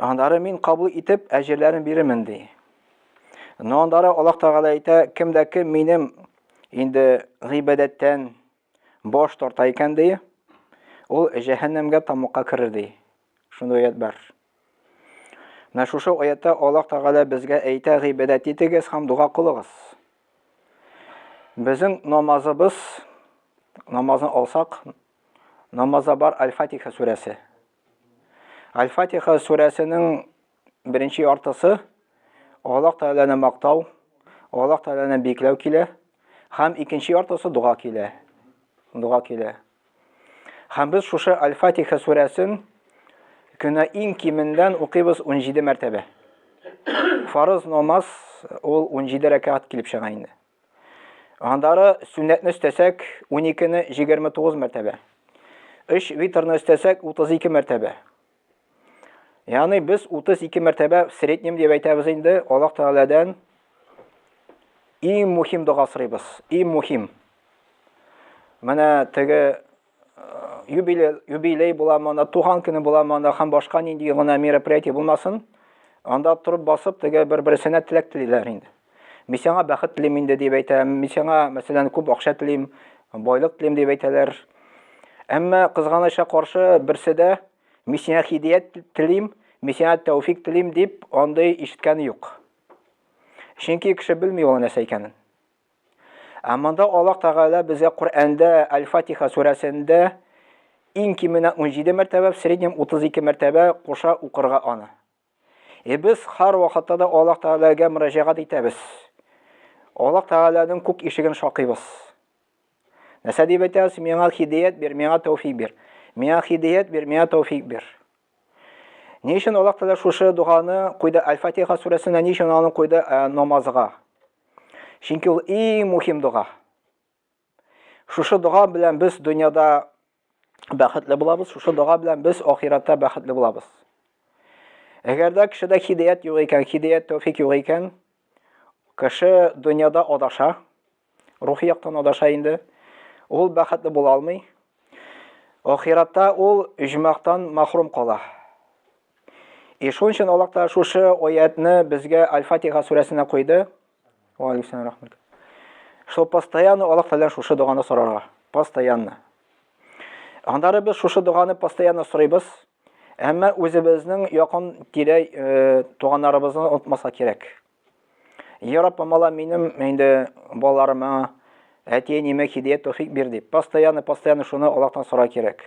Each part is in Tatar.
Аннары мин кабул итеп, әҗерләрен бирермен, ди. Но аннары Аллаһ Тәгалә әйтә, кем дә кем минем инде гыйбадәттән баш тарта икән, ди, ул җәһәннәмгә тамука керер, ди. Шундый аят бар. Менә шушы аятта Аллаһ Тәгалә безгә әйтә, гыйбадәт итегез һәм дуга кылыгыз. Безнең намазыбыз, намазны алсак, намазда бар Аль-Фатиха сүрәсе. Аль-Фатиха сүрәсенең беренче яртысы Аллаһ Тәгаләне мактау, Аллаһ Тәгаләне биекләү килә һәм икенче яртысы дога килә. Дога килә. Һәм без шушы Аль-Фатиха сүрәсен көнә иң кимендән укыйбыз 17 мәртәбә. Фарыз намаз ул 17 рәкәгать килеп чыга инде. Аннары сүннәтне өстәсәк, уникене җигерме тугыз мәртәбә. Өч витрны өстәсәк, утыз ике мәртәбә. Ягъни без утыз ике мәртәбә в среднем дип әйтәбез инде, Аллаһ Тәгаләдән иң мөһим дога сорыйбыз, иң мөһим. Менә теге юбилей, юбилей буламы, анда туган көне буламы, анда һәм башка нинди гына мероприятие булмасын, анда торып басып, теге бер-берсенә теләк телиләр инде. Мин сиңа бәхет телим инде дип әйтә, мин сиңа, мәсәлән, күп акча телим, байлык телим дип әйтәләр. Әмма кызганыча каршы берсе дә мин сиңа хидият телим, мин сиңа тәүфик телим дип андый ишеткәне юк. Чөнки кеше белми ул нәрсә икәнен. Ә монда Аллаһ Тәгалә безгә Коръәндә Әл-Фатиха сүрәсендә иң кименә унҗиде мәртәбә, в среднем утыз ике мәртәбә куша укырга аны. Е без һәр вакытта да Аллаһ Тәгаләгә мөрәҗәгать итәбез. Аллаһ Тәгаләнең күк ишеген шакыйбыз. Нәрсә дип әйтәбез? Миңа хидәят бир, миңа тәүфик бир. Миңа хидәят бир, миңа тәүфик бир. Ни өчен Аллаһ Тәгалә шушы доганы куйды Әл-Фатиха сүрәсенә, ни өчен аны куйды намазга? Чөнки ул иң мөһим дога. Шушы дога белән без дөньяда бәхетле булабыз, шушы дога белән без ахиратта бәхетле булабыз. Әгәр дә кешедә хидәят юк икән, хидәят тәүфик юк икән, кеше дөньяда адаша, рухи яктан адаша инде. Ул бәхетле була алмый. Ахиратта ул иҗмахтан мәхрүм кала. И шуның өчен Аллаһ Тәгалә шушы аятны безгә Аль-Фатиха сүрәсенә куйды. Ва алейкум рахмат. Шул постоянно Аллаһ Тәгалә шушы доганы сорарга. Постоянно. Андары без шушы доганы постоянно сорыйбыз. Әмма үзебезнең якын тирә э, туганнарыбызны онытмаса кирәк. Я Рабб, мала минем инде балаларыма әти-әниемә хидият тәүфик бир дип, постоянно постоянно шуны Аллаһтан сора кирәк.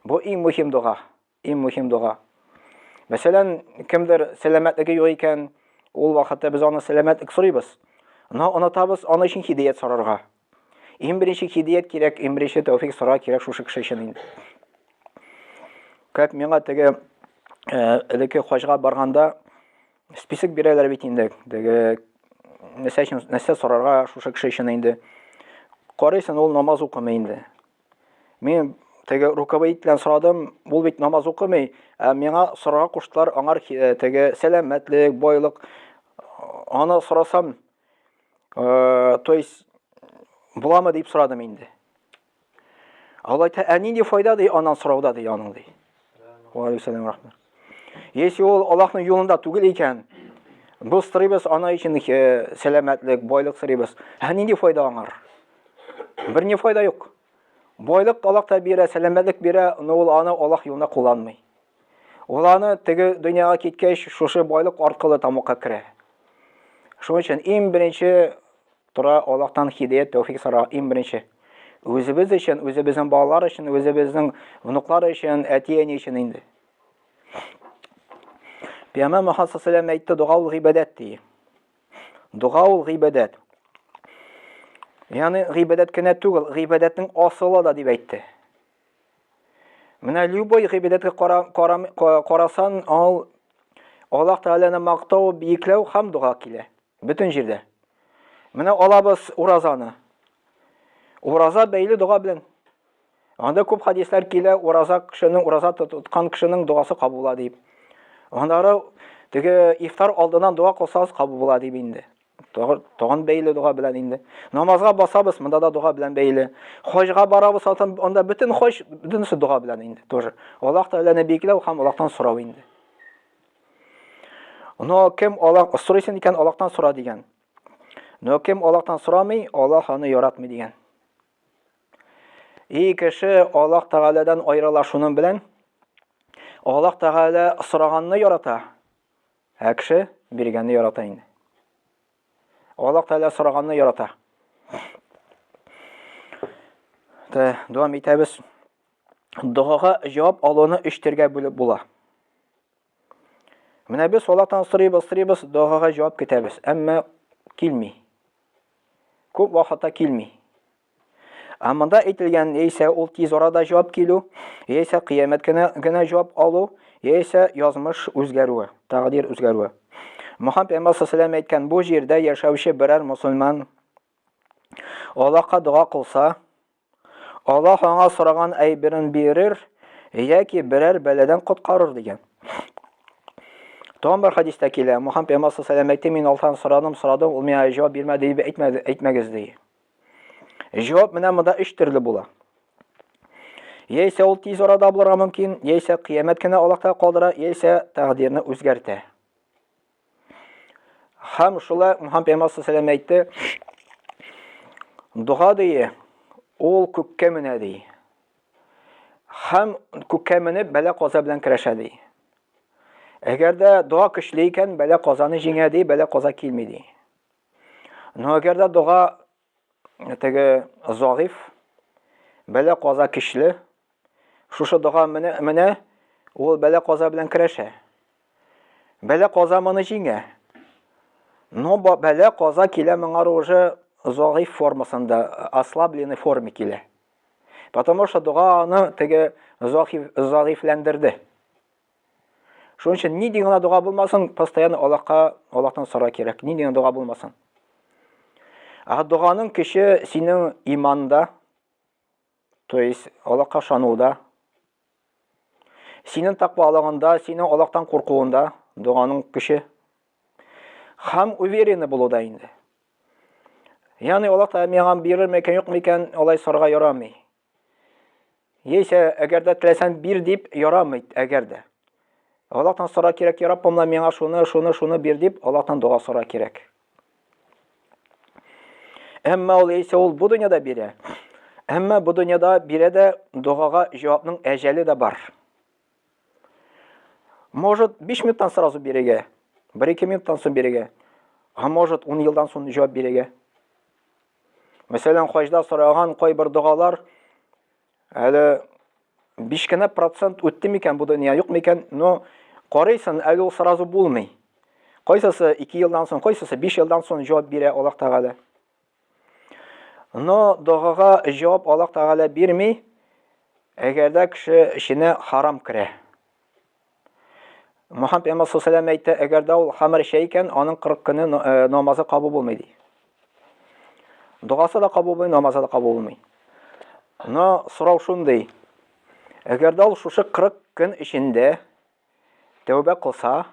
Бу иң мөһим дога. Иң мөһим дога. Мәсәлән, кемдер сәламәтлеге юк икән, ул вакытта без аны сәламәтлек сорыйбыз. Но онытабыз аны өчен хидият сорарга. Иң беренче хидият кирәк, иң беренче тәүфик сорар кирәк шушы кеше өчен инде. Как миңа теге э, элекке хаҗга барганда список бирәләр бит инде. Теге нәрсә өчен нәрсә сорарга шушы кеше өчен инде. Карыйсың, ул намаз укымый инде. Мин теге руководителен сорадым, ул бит намаз укымый, ә миңа сорага куштылар, аңар э, теге сәламәтлек, байлык. Аны сорасам, э, то есть буламы дип сорадым инде. Алайта, ә нинди файда ди анан сорауда ди аның ди. Ва алейкум рахмат. Если ул Аллаһның юлында түгел икән, бу стрибес ана өчен э, сәламәтлек, байлык стрибес. Һә нинди файда аңар? Бер ни файда юк. Байлык Аллаһ та бирә, сәламәтлек бирә, но ул аны Аллаһ юлында кулланмый. Ул аны теге дөньяга киткәч, шушы байлык аркылы тамакка керә. Шуның өчен иң беренче Тора, Аллаһтан һидәят, тәүфик сора, иң беренче. Үзебез өчен, үзебезнең балалар өчен, үзебезнең внуклар өчен, әти-әни өчен инде. Пәйгамбәр Мөхәммәд саллаллаху әйтте, дога ул гыйбадәт ди. Дога ул гыйбадәт. Ягъни гыйбадәт кенә түгел, гыйбадәтнең асылы да дип әйтте. Менә любой гыйбадәткә кара, кара, карасан, ал Аллаһ Тәгаләне мактау, биекләү һәм дога килә. Бөтен җирдә. Менә алабыз уразаны. Ураза бәйле дога белән. Анда күп хадислар килә, ураза кешенең, ураза тоткан кешенең догасы кабул була дип. Аннары теге ифтар алдыннан дога кылсагыз кабул була дип инде. Тагын бәйле дога белән инде. Намазга басабыз, монда да дога белән бәйле. Хаҗга барабыз, анда бөтен хаҗ, бөтенесе дога белән инде тоже. Аллаһ Тәгаләне биекләү һәм Аллаһтан сорау инде. Но кем Аллаһ сорыйсын икән, Аллаһтан сора дигән. Но кем Аллаһтан сорамый, Аллаһ аны яратмый дигән. И кеше Аллаһ Тәгаләдән аерыла шуның белән, Аллаһ Тәгалә сораганны ярата, Ә кеше биргәнне ярата инде. Аллаһ Тәгалә сораганны ярата. Тә, дәвам итәбез. Догага җавап алуны өч төргә бүлеп була. Менә без Аллаһтан сорыйбыз, сорыйбыз, догага җавап көтәбез, әмма килми. Күп вакытта килми. Ә монда әйтелгән яисә ул тиз арада җавап килү, яисә кыямәт кенә генә җавап алу, яисә язмыш үзгәрүе, тәкъдир үзгәрүе. Мөхәммәд пәйгамбәр саллаллаху әйткән, бу җирдә яшәүче берәр мусульман Аллаһка дога кылса, Аллаһ аңа сораган әйберен бирер яки берәр бәладән коткарыр дигән. Тагын бер хадистә килә, Мөхәммәд пәйгамбәр саллаллаху әйтте, мин Аллаһтан сорадым, сорадым, ул миңа җавап бирмәде дип әйтмәгез ди. Җавап менә монда өч төрле була. Яисә ул тиз арада булырга мөмкин, яисә кыямәт кенә Аллаһта калдыра, яисә тәкъдирне үзгәртә. Хәм шулай Мухаммад пәйгамбәр саллаллаху әйтте, дога дие, ул күккә менә ди. Хәм күккә менеп бәлә каза белән керәшә ди. Әгәр дә дога көчле икән, бәлә казаны җиңә ди, бәлә каза килми ди. Но әгәр дә дога теге загыйф, бәлә каза көчле, шушы дога менә, менә ул бәлә каза белән көрәшә. Бәлә каза моны җиңә. Но бәлә каза килә моңар уже загыйф формасында, ослабленный форме килә. Потому что дога аны теге загыйфләндерде. Шуның өчен нинди генә дога булмасын, постоянно Аллаһка, Аллаһтан сора кирәк. Нинди генә дога булмасын. Ә доганың көче синең иманда, то есть Аллаһка ышануда, синең тәкъвалыгында, синең Аллаһтан куркуында доганың көче һәм уверенный булуда инде. Ягъни Аллаһ Тәгалә миңа бирер микән, юк микән, алай сорарга ярамый. Яисә, әгәр дә теләсәң бир дип ярамый, әгәр дә. Аллаһтан сора кирәк, я Раббым, миңа шуны, шуны, шуны бир дип Аллаһтан дога сора кирәк. Әмма ул яисә ул бу дөньяда бирә. Әмма бу дөньяда бирә дә догага җавапның әҗәле дә бар. Может, 5 минуттан сразу бирегә, 1-2 минуттан соң бирегә. А может, 10 елдан соң җавап бирегә. Мәсәлән, хаҗда сораган кайбер догалар әле 5 кенә процент үтте микән бу дөнья, юк микән? Но карыйсын, әле ул сразу булмый. Кайсысы 2 елдан соң, кайсысы 5 елдан соң җавап бирә Аллаһ Тәгалә. Но догага җавап Аллаһ Тәгалә бирми, әгәр дә кеше эченә харам керә. Мухаммед пәйгамбәр саллаллаху әйтә, әгәр дә ул хамыр эчә икән, аның 40 көне э, намазы кабул булмый ди. Догасы да кабул булмый, намазы да кабул булмый. Но сорау шундый. Әгәр дә ул шушы 40 көн эчендә тәүбә кылса,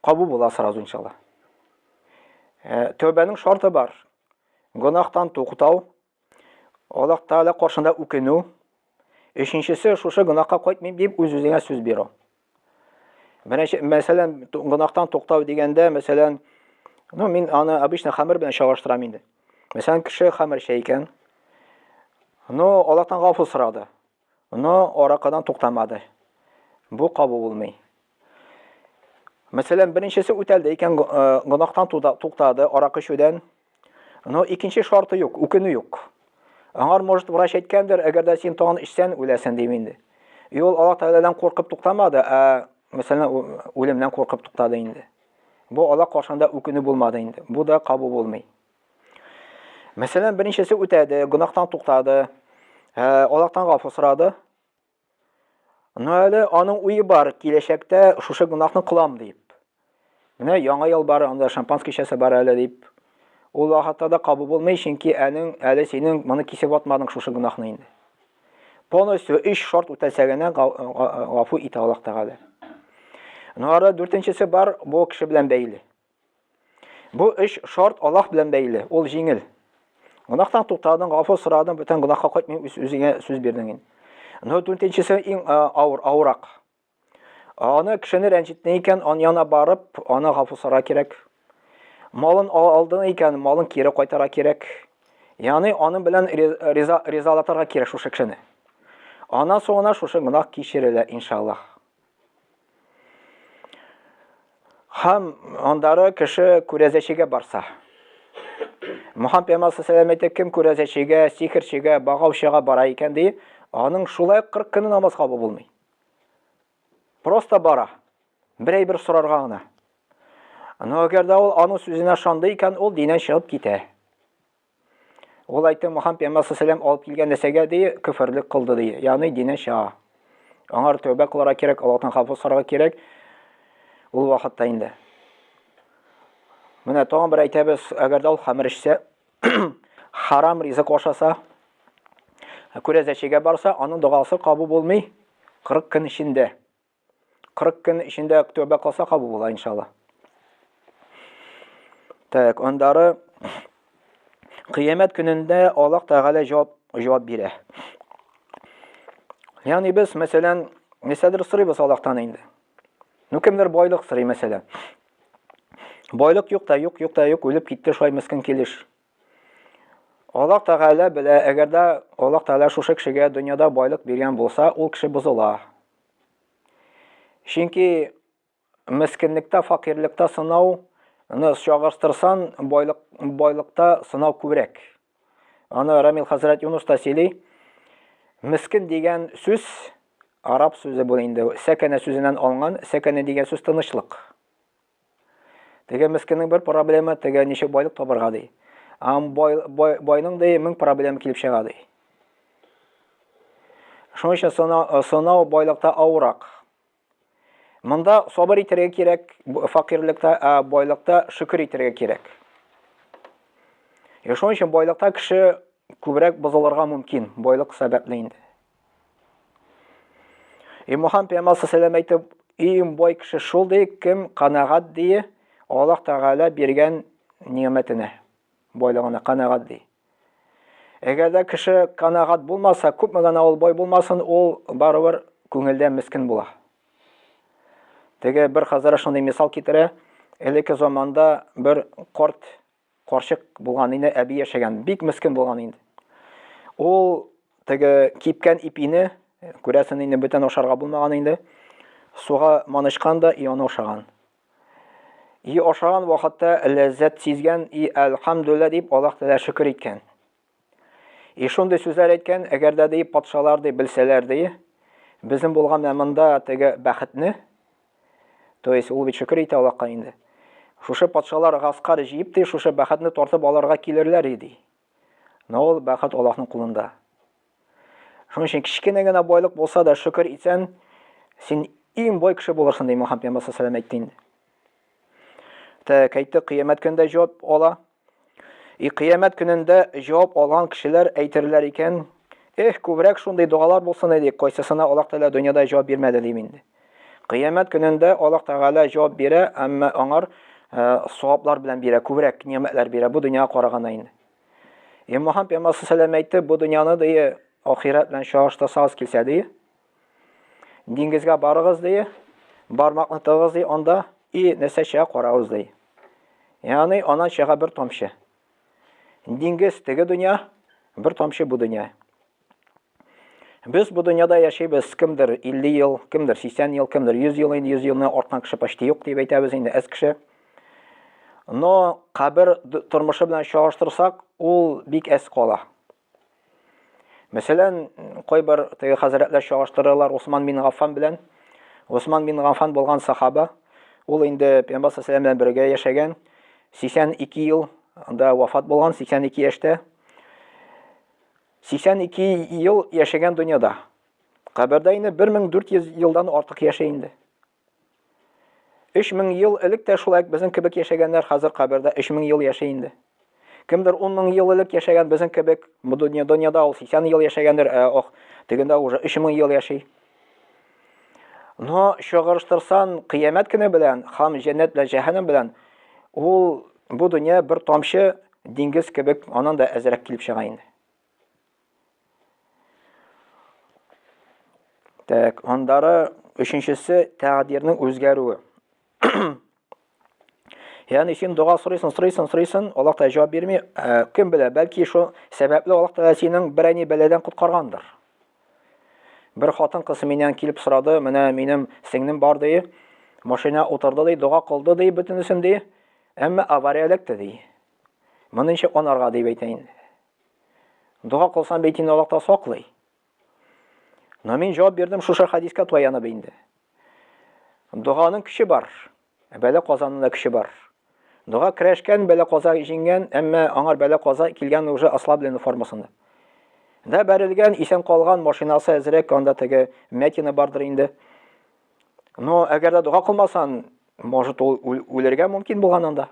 кабул була сразу иншалла. Э, тәүбәнең шарты бар. Гонахтан туктау, Аллаһ Тәгалә каршында үкенү. Өченчесе, шушы гөнаһка кайтмыйм дип үз-үзеңә сүз бирү. Беренче, мәсәлән, гөнаһтан туктау дигәндә, мәсәлән, ну, мин аны обычно хәмер белән чагыштырам инде. Мәсәлән, кеше хәмер чәй икән. Ну, Аллаһтан гафу сорады. Но аракадан туктамады. Бу кабу булмый. Мәсәлән, беренчесе үтәлде икән, э, гонахтан туктады, арак эчүдән. Но икенче шарты юк, үкенү юк. Аңар, может, врач әйткәндер, әгәр дә син тагын эчсән, үләсен дим инде. И ул Аллаһ Тәгаләдән куркып туктамады, ә мәсәлән, үлемнән куркып туктады инде. Бу Аллаһ каршында үкенү булмады инде. Бу да кабу булмый. Мәсәлән, беренчесе үтәде, гөнаһтан туктады, ә, Аллаһтан гафу сорады. Но әле аның уе бар, киләчәктә шушы гөнаһны кылам дип. Менә яңа ел бар, анда шампанс кичәсе бар әле дип. Ул вакытта да кабул булмый, чөнки әнең әле синең моны кисеп атмадың шушы гөнаһны инде. Полностью өч шарт үтәсә генә гафу итә Аллаһ Тәгалә. Нора дүртенчесе бар, бу кеше белән бәйле. Бу эш шарт Аллаһ белән бәйле, ул җиңел. Гунахтан туктадың, гафу сорадың, бүтән гунахка кайтмый үз үзеңә сүз бирдең инде. Ну, дүртенчесе иң авыр, авырак. Аны кешене рәнҗеттең икән, аны яна барып, аны гафу сора кирәк. Малын алдың икән, малын кире кайтара кирәк. Яны аны белән риза ризалатырга кирәк шушы кешене. Ана соңына шушы гунах кичерелә, иншаллаһ. Хам андары кеше күрәзәчегә барса. Мухаммед пәйгамбәр саллаллаху кем күрәзәчегә, сихерчегә, багаучыга бара икән ди, аның шулай 40 көне намаз кабул булмый. Просто бара. Берәй бер сорарга гына. Но әгәр дә ул аның сүзенә шанды икән, ул динен чыгып китә. Ул әйтте, Мухаммед пәйгамбәр саллаллаху алып килгән нәрсәгә ди, күферлек кылды ди. Ягъни дине чыга. Аңар тәүбә кылырга кирәк, Аллаһтан хафу сорарга кирәк. Ул вакытта инде. Менә тагын бер әйтәбез, әгәр дә ул хамыр эчсә, харам ризык ашаса, күрәзәчегә барса, аның догасы кабу булмый 40 көн эчендә. 40 көн эчендә тәүбә кылса кабул була иншалла. Так, андары кыямәт көнендә Аллаһ Тәгалә җавап җавап бирә. Ягъни без, мәсәлән, нисәдер сорыйбыз Аллаһтан инде. Ну кемдер байлык сорый, мәсәлән. Байлык юк та, юк, юк та, юк, үлеп китте шулай мескин килеш. Аллаһ Тәгалә белә, әгәр дә Аллаһ Тәгалә шушы кешегә дөньяда байлык биргән булса, ул кеше бозыла. Чөнки мескенлектә, факирлектә сынау, аны чагырстырсан, байлык, байлыкта сынау күбрәк. Аны Рамил хәзрәт Юнус та сөйли. Мискен дигән сүз араб сүзе бу инде. Сәкәнә сүзеннән алынган. Сәкәнә дигән сүз тынычлык. Теге мескеннең бер проблема, теге ничек байлык табырга ди. Ам бай, бай, байның ди мең проблема килеп чыга ди. Шуның өчен сынау, э, сынау байлыкта авырак. Монда сабыр итәргә кирәк, факирлектә, ә байлыкта шөкер итәргә кирәк. Шуның өчен байлыкта кеше күбрәк бозылырга мөмкин, байлык сәбәпле инде. И Мухаммад пәйгамбәр саллаллаху әйтеп, иң бай кеше шул ди, кем канагат ди, Аллаһ Тәгалә биргән ниәмәтенә, байлыгына канагат ди. Әгәр дә кеше канагат булмаса, күпме генә ул бай булмасын, ул барыбер күңелдә мискен була. Теге бер хәзрәт шундый мисал китерә, элекке заманда бер корт Карчык булган инде, әби яшәгән. Бик мескен булган инде. Ул теге кипкән ипине, күрәсен инде бөтен ашарга булмаган инде, суга манышкан да и аны ашаган. И ашаган вакытта ләззәт сизгән и әлхәмдүллә дип Аллаһ Тәгалә шөкер иткән. И шундый сүзләр әйткән, әгәр дә ди патшалар ди белсәләр ди, безнең булган ә монда теге бәхетне, то есть ул бит шөкер итә Аллаһка инде. Шушы патшалар гаскар җыеп ди, шушы бәхетне тартып алырга килерләр иде. Но ул бәхет Аллаһның кулында. Шуның өчен кечкенә генә байлык булса да шөкер итсәң, син иң бай кеше булырсың, ди Мөхәммәд пәйгамбәр саллаллаху алейһи ва сәлләм әйтте инде. Тә кайтты кыямәт көндә җавап ала. И кыямәт көнендә җавап алган кешеләр әйтерләр икән, Эх, күбрәк шундый догалар булсын иде, кайсысына Аллаһ Тәгалә дөньяда җавап бирмәде дим инде. Кыямәт көнендә Аллаһ Тәгалә җавап бирә, әмма аңар саваплар белән бирә, күбрәк нигъмәтләр бирә бу дөньяга караганда инде. Имам Пәйгамбәр сәлам әйтте, бу дөньяны дие ахирәт белән чагыштырсагыз килсә дие, Диңгезгә барыгыз ди, бармакны тыгыз ди, анда и нәрсә чыга карагыз ди. Яны анан чыга бер тамчы. Диңгез теге дөнья, бер тамчы бу дөнья. Без бу дөньяда яшибез, кемдер 50 ел, кемдер 80 ел, кемдер 100 ел, 100 елны арткан кеше почти юк дип әйтәбез инде, әз кеше. Но кабер тормышы белән чагыштырсак, ул бик әз кала. Мәсәлән, кайбер теге хәзрәтләр чагыштыралар Усман бин Гаффан белән. Усман бин Гаффан булган сахаба, ул инде Пәйгамбәр саллаллаху белән бергә яшәгән, 82 ел анда вафат булган, 82 яшьтә. 82 ел яшәгән дөньяда. Кабердә инде 1400 елдан артык яшәй инде. Өч мең ел элек тә шулай безнең кебек яшәгәннәр хәзер кабердә өч мең ел яши инде. Кемдер ун мең ел элек яшәгән безнең кебек бу дөнья дөньяда ул сиксән ел яшәгәндер, ә ох, тегендә уже өч мең ел яши. Но чагырыштырсан кыямәт көне белән хам җәннәт белән җәһәннәм белән ул бу дөнья бер тамчы диңгез кебек анан да әзрәк килеп чыга инде. Так, андары өченчесе тәгъдирнең үзгәрүе. Яны өчен дога сорыйсын, сорыйсын, сорыйсын, Аллаһ та җавап бирми. Э, кем белә, бәлки шул сәбәпле Аллаһ та синең бер әни бәладән коткаргандыр. Бер хатын кыз миннән килеп сорады, менә минем сеңнем бар ди, машина утырды ди, дога кылды ди, бөтенесен ди, әмма авария эләкте ди. Моны ничек анарга дип әйтәйин. Дога кылсаң бит инде Аллаһ та саклый. Но мин җавап бирдем шушы хадискә таянып инде. Доганың көче бар. Ә бәлә казаның да көче бар. Дога керәшкән, бәлә каза җиңгән, әмма аңар бәлә каза килгән уже ослабленный формасында. Да бәрелгән, исән калган машинасы әзрәк, анда теге мятина бардыр инде. Но әгәр дә дога кылмасан, может ул үлергә мөмкин булган анда.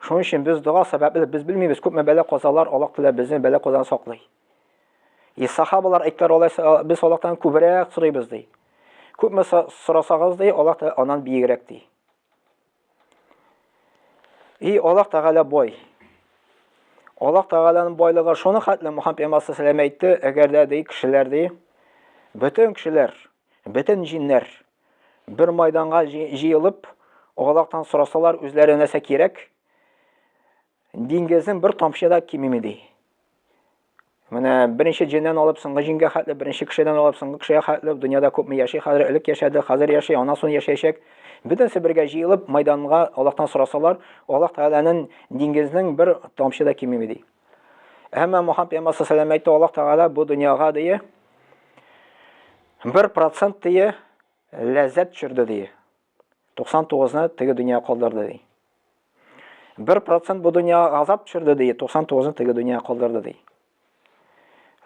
Шуның өчен без дога сәбәпле, без белмибез, күпме бәла-казалар Аллаһ Тәгалә безне бәла-казадан саклый. И сахабалар әйттеләр, алайса без Аллаһтан күбрәк сорыйбыз ди. Күпме сорасагыз ди, Аллаһ Тәгалә аннан биегрәк ди. И Аллаһ Тәгалә бай. Аллаһ Тәгаләнең байлыгы шуны хәтле Мухаммад пәйгамбәр сәлам әйтте, әгәр дә ди кешеләр ди, бөтен кешеләр, бөтен җиннәр Бер майданга җыелып, огалактан сорасалар, үзләре нәрсә кирәк? Диңгезнең бер тамчы да кимеми ди. Менә беренче җеннән алып соңгы җингә хәтле, беренче кешедән алып соңгы кешегә хәтле дөньяда күпме яши хәзер, элек яшәде, хәзер яши, аннан соң яшәячәк. Бөтенесе бергә җыелып, майданга Аллаһтан сорасалар, Аллаһ Тәгаләнең диңгезнең бер тамчы да кимеми ди. Әмма Мухаммад пәйгамбәр саллаллаху әйтте, Аллаһ Тәгалә бу дөньяга дие 1% дие ләззәт төшерде дие. 99-ны теге дөнья калдырды ди. 1% бу дөнья газап төшерде ди, 99-ны теге дөнья калдырды ди.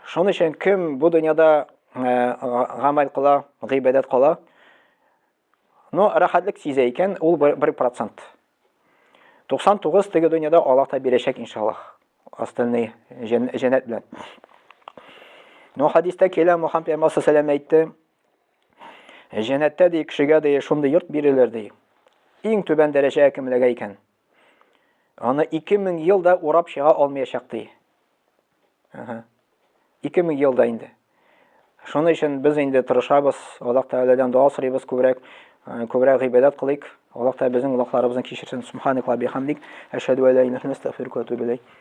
Шуның өчен кем бу дөньяда гамәл кыла, гыйбадәт кыла, Ну, рәхәтлек сизә икән, ул бер процент. 99 теге дөньяда Аллаһ та бирәчәк, иншаллаһ. Остальный җәннәт белән. Ну, хадистә килә, Мухаммед пәйгамбәр саллаллаху алейһи әйтте, Җәннәттә ди кешегә ди шундый йорт бирелер ди. Иң түбән дәрәҗә кемлегә икән? Аны 2000 ел да урап чыга алмаячак ди. Ага. 2000 ел да инде. Шуның өчен без инде тырышабыз, Аллаһ Тәгаләдән дога сорыйбыз күбрәк, э, күбрәк гыйбадәт кылыйк. Аллаһ Тәгалә безнең гөнаһларыбызны кичерсен. Субханакла бихамдик, әшһәду ала илаһ иллә антә, астагфирука ва атубу